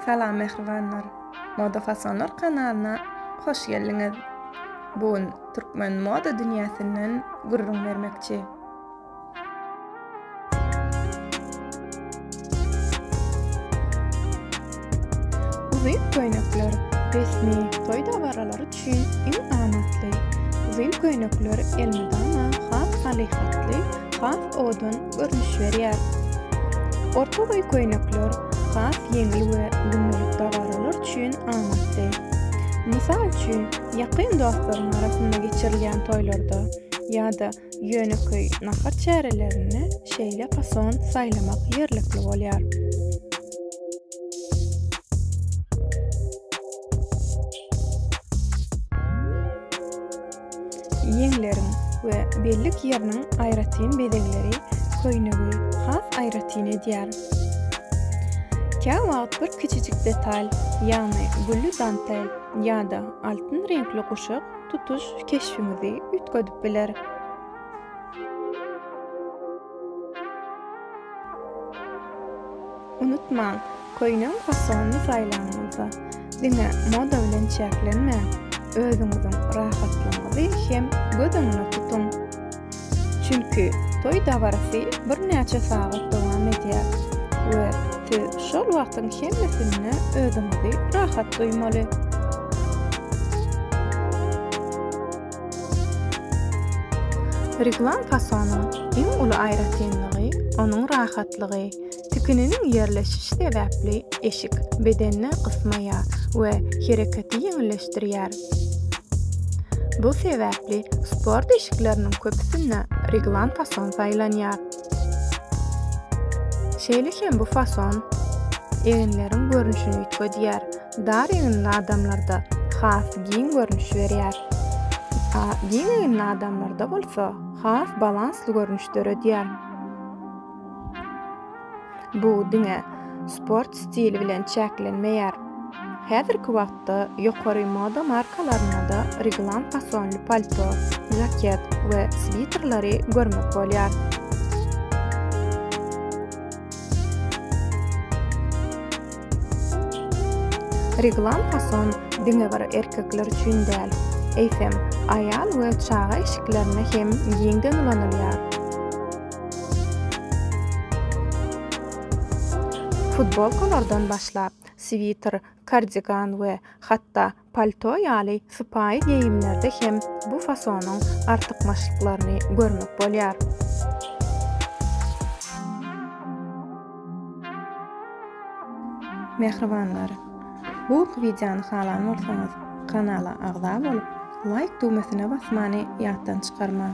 Salam mähribanlar! Moda Fasonlar kanalyna hoş geldiňiz! Bu gün türkmen moda dünýäsinden gürrüň bermekçi. Uzyn köýnekler resmi toý dabaralary üçin iň amatly. Uzyn köýnekler elmydama has halyhatly, has owadan görnüş berýär. Orta boý köýnekler has ýeňil we gündelik dabaralar üçin amatly. Mysal üçin, ýakyn dostlaryň arasynda geçirilýän toýlarda ýa-da ýönekeý nahar çärelerinde şeýle fason saýlamak ýerlikli bolýar. Ýeňleriň we bellik ýeriniň aýratyn bezegleri köýnegi has aýratyn edýär. Kä wagt bir kiçijik detal, ýagny gülli dantel ýa-da altyn reňkli guşak tutuş keşbiňizi üýtgedip biler. Unutmaň, köýnegiň fasonyny saýlanyňyzda, diňe moda bilen çäklenmän, özüňiziň rahatlygyňyzy hem göz öňünde tutuň. Çünki toý dabarasy birnäçe sagat dowam edýär we siz şol wagtyň hemmesinde özüňizi rahat duýmaly. Reglany fasonyň iň uly aýratynlygy, onuň rahatlygy. Tikininiň ýerleşişi sebäpli eşik bedende gysmaýar we hereketi ýeňilleşdirýär. Bu sebäpli sport eşikleriniň köpüsinde reglan fason saýlanýar. Şeýle hem bu fason eginleriň görnüşini üýtgedýär, dar eginli adamlarda has giň görnüş berýär, giň eginli adamlarda bolsa has balansly görnüş döredýär. Bu diňe sport stili bilen çäklenmeýär. Häzirki wagtda ýokary moda markalarynda-da reglan fasonly palto, žaket we switerleri görmek bolýar. Reglan fason diňe bir erkekler üçin däl, eýsem, aýal we çaga eşiklerinde hem giňden ulanylýar. Futbolkalardan başlap, switer, kardigan we hatda palto ýaly sypaýy geýimlerde hem bu fasonyň artykmaçlyklaryny görmek bolýar. Mähribanlar! Bu wideony halan bolsaňyz, kanala agza bolup, laýk düwmesine basmany ýatdan çykarmaň!